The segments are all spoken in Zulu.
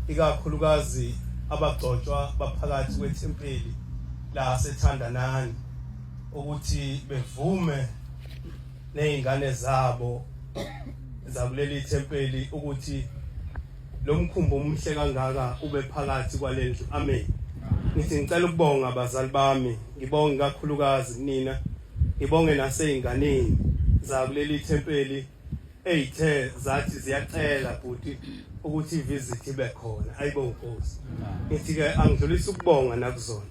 ikakhulukazi abagcotshwa baphakathi kwethempeli lasethandanani ukuthi bevume nezingane zabo zakuleli thempeli ukuthi lo mkhumbi omuhle kangaka ube phakathi kwalendlu amen ngithi ngicela ukubonga abazali bami ngibonge kakhulukazi kunina ngibonge naseyinganeni zakuleli thempeli eyithe zathi ziyacela bhuti ukuthi ivisit ibe khona ayibo nkosi ngithi ke angidlulisa ukubonga nakuzona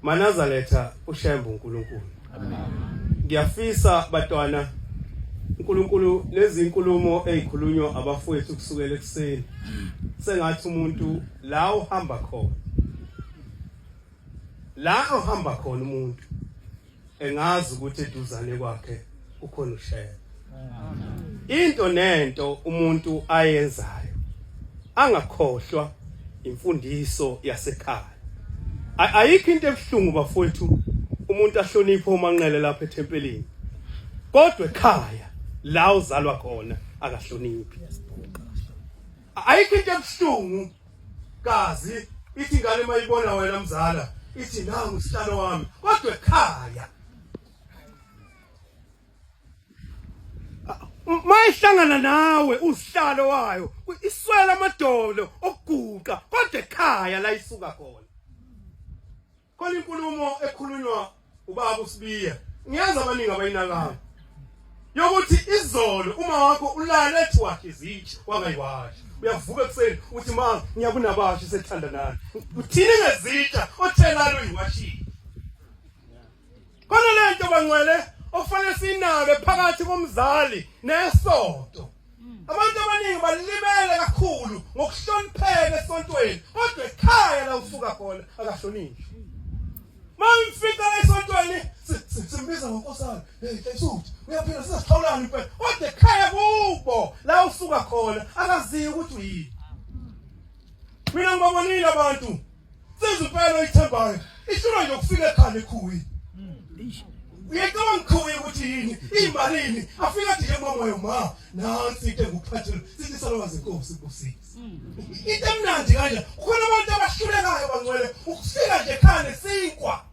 manaza letha ushembe uNkulunkulu ngiyafisa batwana uNkulunkulu lezi inkulumo ezikhulunywa abafowethu kusukela ekseni sengathi umuntu la uhamba khona la uhamba khona umuntu engazi ukuthi eduzane kwakhe kukhona ushela into nento umuntu ayenzayo angakhohlwa imfundiso yasekhaya ayikho into ebuhlungu bafowethu umuntu ahloniphe umanqele lapha ethempelini kodwa ekhaya la uzalwa khona akahloniphi ayikho into ebuhlungu kazi ithi ingane mayibona wena mzala ithi nangu sihlalo wami kodwa ekhaya mayihlangana nawe usihlalo wayo iswela amadolo okuguqa kodwa ekhaya la isuka khona Khona inkulumo ekhulunywa ubaba uSibiya. Ngiyazi abaningi abayinakayo. Yokuthi izolo uma wakho ulale ethi wakhe izitsha wangayiwashi. Uyavuka ekuseni uthi ma ngiyakunabashi sethanda nani. Uthini ngezitsha othelalo uyiwashile. Khona le nto bangcwele okufanele sinake phakathi komzali nesonto. Abantu abaningi balibele kakhulu ngokuhlonipheka esontweni kodwa ekhaya la usuka khona akahlonishwa. Mangifika esontweni simbiza ngonkosana hey esuthi uyaphila sisixhawulana impela kodwa ekhaya kubo la usuka khona akaziyo ukuthi uyini. Mina ngibabonile abantu Senza impela oyithembayo. Ihlulwa nje ukufika ekhanda ekhuwi. Uyacabanga ukhuwi ukuthi yini? Imalini? Afika nje ngomoya ma. Nansi into engukuphathela. Sithi salwazi inkosi kusisi. Into emnandi kanje. Khona abantu abahlulekayo bangcwele ukufika nje ekhanda sinkwa.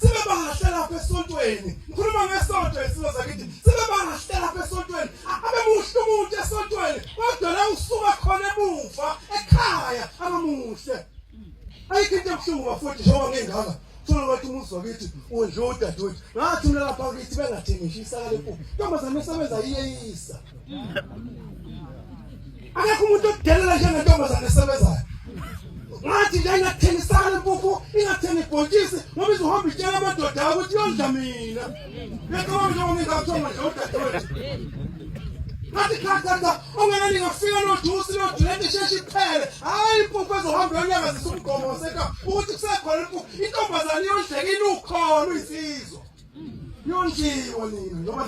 sebebahahla lapha esontweni ngikhuluma ngesonto isilo zakithi sebebahahla lapha esontweni abemuhle umuntu esontweni kodwa la usuka khona emuva ekhaya abamuhle ayikho into ebuhlungu bafowethu njengoba ngengaka thola ukuthi umuzi wakithi udla udadewethu ngathi mina lapha kithi bengathengishi isakale kubo ntombazane esebenza iyeyisa akekho umuntu odelela njengentombazane esebenzayo ngathi nje ingathengisana impuphu ingathengi ibhontshisi ngoba izohamba itshela amadoda ayo ukuthi yondla mina becabanga njengoba ngingakuthenga nje udadewethu ngathi khathatha ongena ningafika nojusi lojulete isheshe iphele hhayi impuphu ezohamba yonyakazisa umgomo waseka ukuthi kusekhona impuphu intombazane yondleka inukhona uyisizwa Yonjiwe nina noma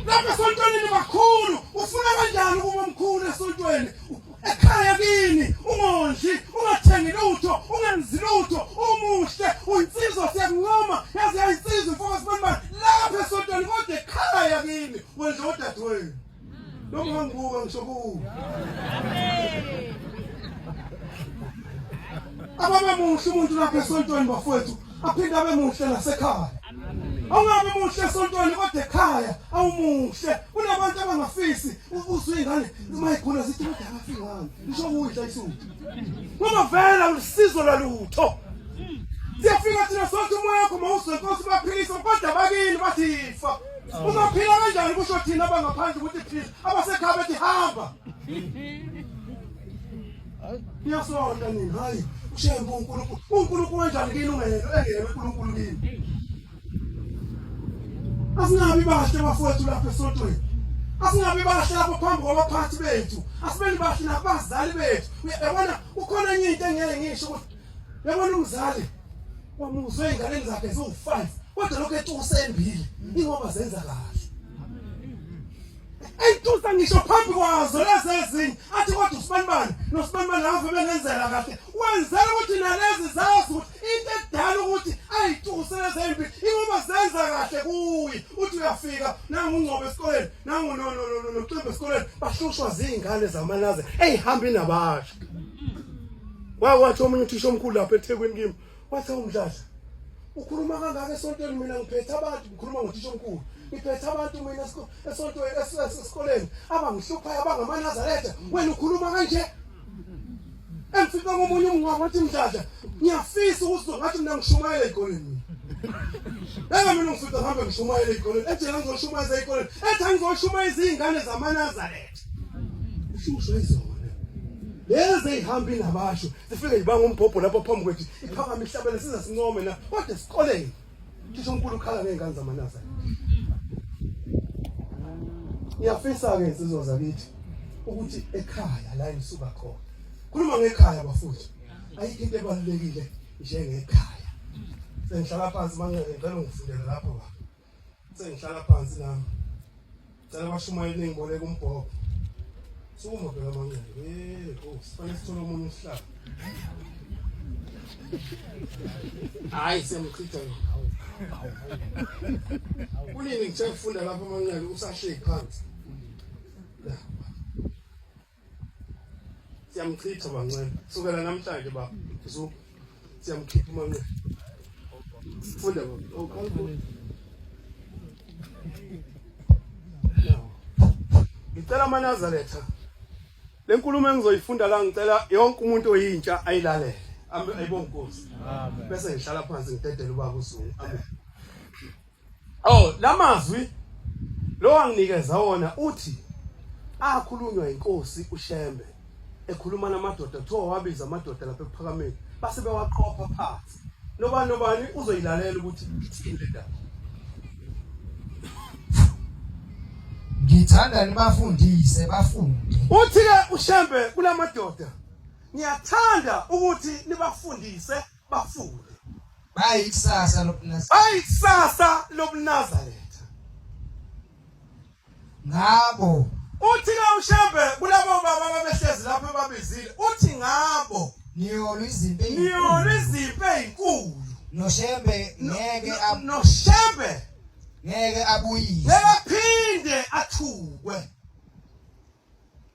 Lapha sontweni bakhulu ufuna kanjani ukuba mkhulu esontweni ekhaya kini ungondli ungathengi lutho ungenzi lutho umuhle uyinsizwa siyakuncoma yaze yayinsizwa mfoka sibonibani lapha esontweni kodwa ekhaya kini wenza odadewenu Noma ungangibuka ngisokuwe. Ababe muhle umuntu lapha esontweni bafowethu aphinde abe muhle nasekhaya. Awungabe muhle esontweni kodwa ekhaya awumuhle. Kunabantu abangafisi ukuzwa ingane uma ikhona zithi kodwa akafiki ngani. Ngisho kuyidla isuthu. Ngoba vela usizo lalutho. Siyafika thina sonke umoya wakho mawuzwe Nkosi baphilisa kodwa bakini bathifa. Ungaphila kanjani kusho thina abangaphandle ukuthi phila abasekhaya bethi hamba. Niyasonda nini hayi ushembe uNkulunkulu. UNkulunkulu kanjani kini ungelo engelo uNkulunkulu kini. Asinabi bahle bafowethu lapha esontweni. Asingabi bahle lapho phambi kwabaphathi bethu. Asibeni bahle nabazali bethu. Uyabona ukhona enye into engeke ngisho ukuthi yabona umzali wamusa ezinganeni zakhe ziwu-five kodwa lokhu etusa embili ingoba zenza kahle eyitusa ngisho phambi kwazo lezi ezinye athi kodwa usibanibani nosibanibani ave bengenzela kahle wenzela ukuthi nalezi zazi ukuthi into edala ukuthi ayituse lezi embi ingoba zenza kahle kuye uthi uyafika nangungcobo esikoleni nangunoximba esikoleni bahlushwa ziy'ngane zamanaze eyihambi nabasha Wakwathi omunye uthisha omkhulu lapha eThekwini kimi wathi awumdlala ukhuluma kangaka esontweni mina ngiphethe abantu ngikhuluma ngothisha omkhulu ngiphethe abantu mina esontweni esikoleni abangihluphayo abangamaNazaretha wena ukhuluma kanje engifika komunye umngwa wathi mdlala ngiyafisa ukuzwa ngathi mina ngishumayela ezikoleni Eka mina ngifika ngihambe ngishumayela ezikoleni ejela ngizoshumayela ezikoleni ethi angizoshumayela izingane zamaNazaretha ushusho izona lezi ezihambi nabasho zifike zibanga umbhobho lapha phambi kwethu iphakama ihlabele siza sincome na kodwa esikoleni ngisho uNkulunkulu ukhala ngezingane zamanasa ngiyafisa ke insizwa zakithi ukuthi ekhaya la engisuka khona khuluma ngekhaya bafuthi ayikho into ebalulekile njengekhaya sengihlala phansi manqele ngicela ungifundele lapho baba sengihlala phansi nami cela abashumayeli ningiboleka umbhobho sukuma bheka amanqele eh oh sifanele sithole omunye usihlala hayi siyamchitha kunini ngithe ngifunda lapha amanqele usahleki phansi siyamchitha manxeba sukela namhlanje baba zuku siyamkhipha umanxeba funda baba ngicela amanazaretha le nkulumo engizoyifunda la ngicela yonke umuntu oyintsha ayilalele ayibonkosi bese ngihlala phansi ngidedele ubaba usuku amen Oh lamazwi lo anginikeza wona uthi akhulunywa inkosi uShembe ekhuluma namadoda kuthiwa wabiza amadoda lapha ekuphakameni base bewaqopha phansi nobani nobani uzoyilalela ukuthi ithini le ndaba ngithanda nibafundise bafunde uthi ke uShembe kulamadoda ngiyathanda ukuthi nibafundise bafunde bayikusasa lobunazaretha bayikusasa lobunazaretha ngabo uthi ke ushembe kulabo baba ababehlezi lapho babizile uthi ngabo niyolwa izimpi niyolwa izimpi ezinkulu noshembe ngeke noshembe ngeke abuyise ngeke aphinde athukwe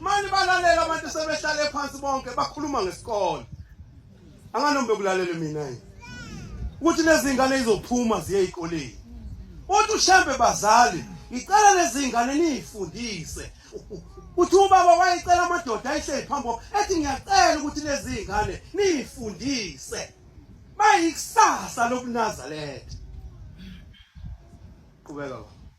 mani balalela abantu sebehlale phansi bonke bakhuluma ngesikole anganombe kulalele mina yini ukuthi nezingane izophuma ziye ezikoleni uthi ushembe bazali ngicela lezingane niyifundise uthi ubaba wayecela amadoda ayihleli phambi ethi ngiyacela ukuthi lezingane niyifundise bayikusasa lokunazaletha qhubeka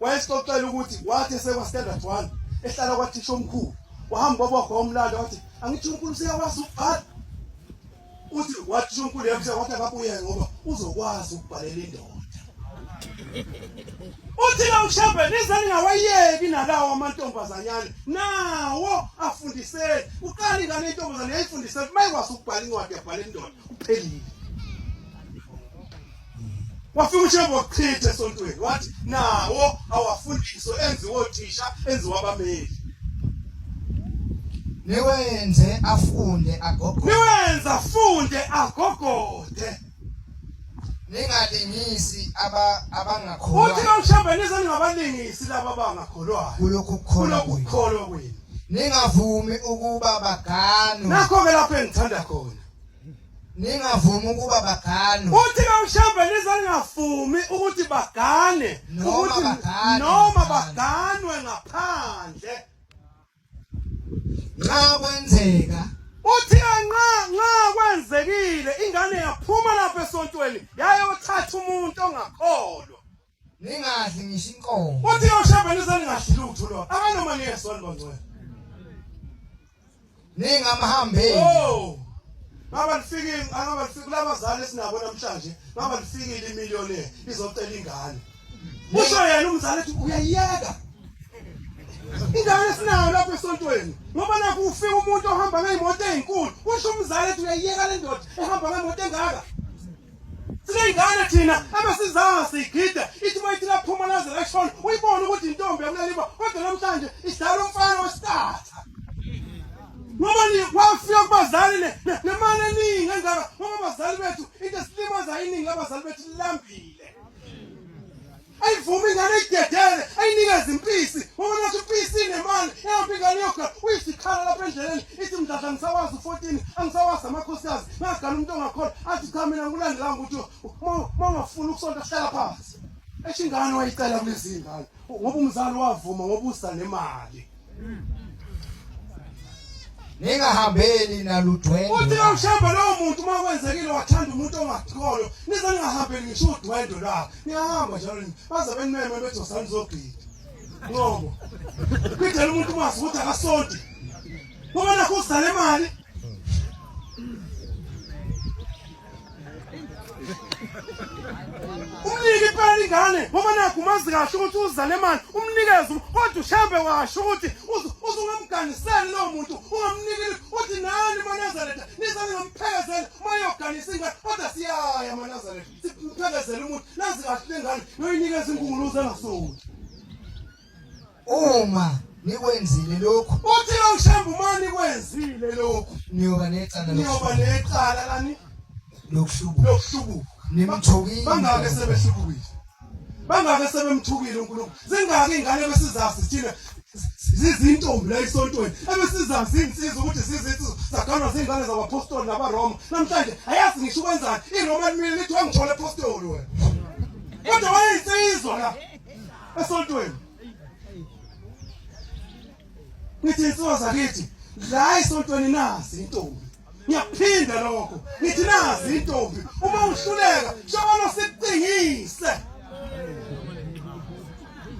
wayesixoxela ukuthi wathi esekwastandard one ehlala kwathisha omkhulu wahamba wabogwa umlando wathi angithi unkulu useyakwazi ukubhala uthi wathisha omkhulu yamsha wathi akabuye ngoba uzokwazi ukubhalela indoda uthi la ushebe nize ningawayeki nalawo amantombazanyane nawo afundiseni uqala ingane intombazane yayifundiseni mayikwazi ukubhala incwadi yabhala indoda uphelile wafika ushembe wachitha esontweni wathi nawo awafundiswe enziwe othisha enziwe abameli niwenze afunde agogode niwenze afunde agogode ningalingisi aba abangakholwa uthi nomshamba nize ningabalingisi laba abangakholwayo kulokhu kukholwa kwenu ningavumi ukuba baganwe nakho ke lapho engithanda khona ningavumi ukuba bagane uthi kawushambe nizangavumi ukuthi bagane ukuthi noma baganwe ngaphandle nxa kwenzeka uthi nxa nxa kwenzekile ingane yaphuma lapha esontweni yayothatha umuntu ongakholwa ningadli ngisho inkomo wathi yoshamba nizaningadli lutho lo akanoma niyesona bangcwele ningamhambeli oh Baba lifikile akaba lifike kulabazali esinabo namhlanje baba lifikile imiliyoni izocela ingane Usho yena umzali ethi uyayiyeka Ingane esinayo lapha esontweni ngoba nakho ufika umuntu ohamba ngeimoto ezinkulu usho umzali ethi uyayiyeka le ndoda ehamba ngeimoto engaka Singane thina abasizanga sigida ithi mayithi laphuma laze lashona uyibona ukuthi intombi yakuleliba kodwa namhlanje idlala umfana wesitatha. Ngoba ni wafika kubazali ne nemali eningi engaka ngoba abazali bethu into esilimaza iningi labazali bethu lambile. ayivumi ingane idedele ayinikeze impisi ngoba nathi impisi inemali ehambe ingane yoga uyisikhala lapha endleleni ithi mdladla ngisawazi u-fourteen angisawazi amakhosikazi ngagana umuntu ongakhona athi cha mina ngikulandelanga ukuthi uma ungafuni ukusonta hlala phansi esho ingane wayicela kulezi ngane ngoba umzali wavuma ngoba usa nemali ningahambeli naludwendwe uthi awushembe lowo muntu uma kwenzekile wathanda umuntu ongathikolo nize ningahambeli ngisho udwendwe lwabo niyahamba njalo baze benimeme bethi osani zogida ngobo kidela umuntu umazi ukuthi akasonti ngoba nakho uzale imali umnike impela ingane ngoba nakho umazi kahle ukuthi uzale imali umnikeze kodwa ushambe washo ukuthi uzungamganiseli lowo muntu ungamnikile uthi nani manazaretha nizani ngamphelekezela mayoganisa ingane kodwa siyaya manazaretha simphelekezela umuntu nazi kahle le ngane noyinikeza inkunguluza engasoni Uma nikwenzile lokhu uthi lokushamba uma nikwenzile lokhu niyoba necala niyoba necala lani lokuhlubuka lokuhlubuka nimthukile bangake sebehlubukile bangake sebemthukile uNkulunkulu zingaki ingane besizazi thina zizintombi la esontweni ebesizazi insizwa ukuthi zizinsizwa zaganwa zingane zabapostoli nabaroma namhlanje ayazi ngisho ukwenzani iroma limile lithi wangithola epostoli wena kodwa wayeyinsizwa la esontweni ngithi insuwa zakithi la esontweni nazi intombi ngiyaphinda lokho ngithi nazi intombi uma uhluleka shobona sicingise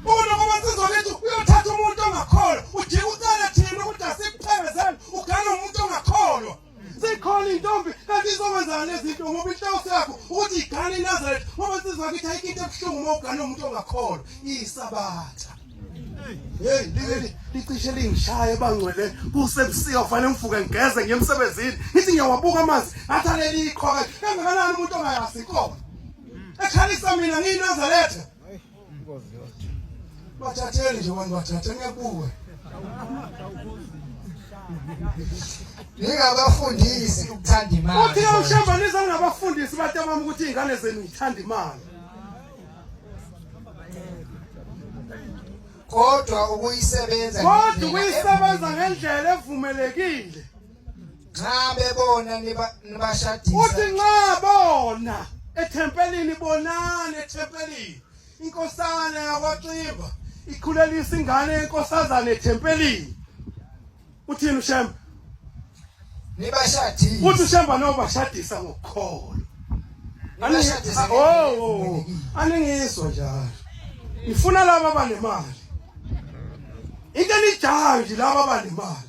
Umuntu uma sizolethu uyothatha umuntu ongakholwa ujika ucela thina ukuthi asiphezele ugana umuntu ongakholwa sikhona intombi kanti izokwenza lezi zinto ngoba inhloso yakho ukuthi igane iNazareth ngoba insizwa yakithi ayikho into ebuhlungu uma ugane umuntu ongakholwa iyisabatha Hey leli licishe lingishaye bangcwele kusebusika kufanele ngivuke ngigeze ngiye emsebenzini ngithi ngiyawabuka amanzi ngathi aleli iqhoka kangakanani umuntu ongayazi iqhoka ekhalisa mina ngiyinazaretha inkosi yodwa bathatheni nje wani bathathe ngebuwe ningabafundisi ukuthanda imali uthi ushembanisa ngabafundisi batamama ukuthi izingane zenu zithanda imali kodwa ukuyisebenza kodwa ukuyisebenza ngendlela evumelekile nxa bebona nibashadisa uthi nxa bona ethempelini bonani ethempelini inkosana yakwaXimba ikhulelisa ingane yenkosazana ethempelini uthini ushemba nibashadisa uthi ushemba nobashadisa ngokukholo nibashadisa oh, oh, oh. aningizwa njalo ngifuna laba abanemali into enijayo nje laba abanemali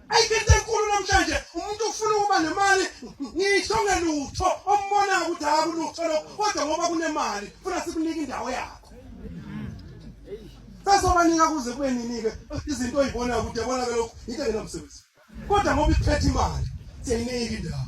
ayikhethe enkulu namhlanje umuntu ufuna ukuba nemali ngisho ngelutho ombona ukuthi akulutho lokho kodwa ngoba kunemali funa sikunike indawo yakho sasobanika kuze kube nini-ke izinto oyibona kude bona ke lokhu yinto engenamsebenzi kodwa ngoba iphethe imali siyayinika indawo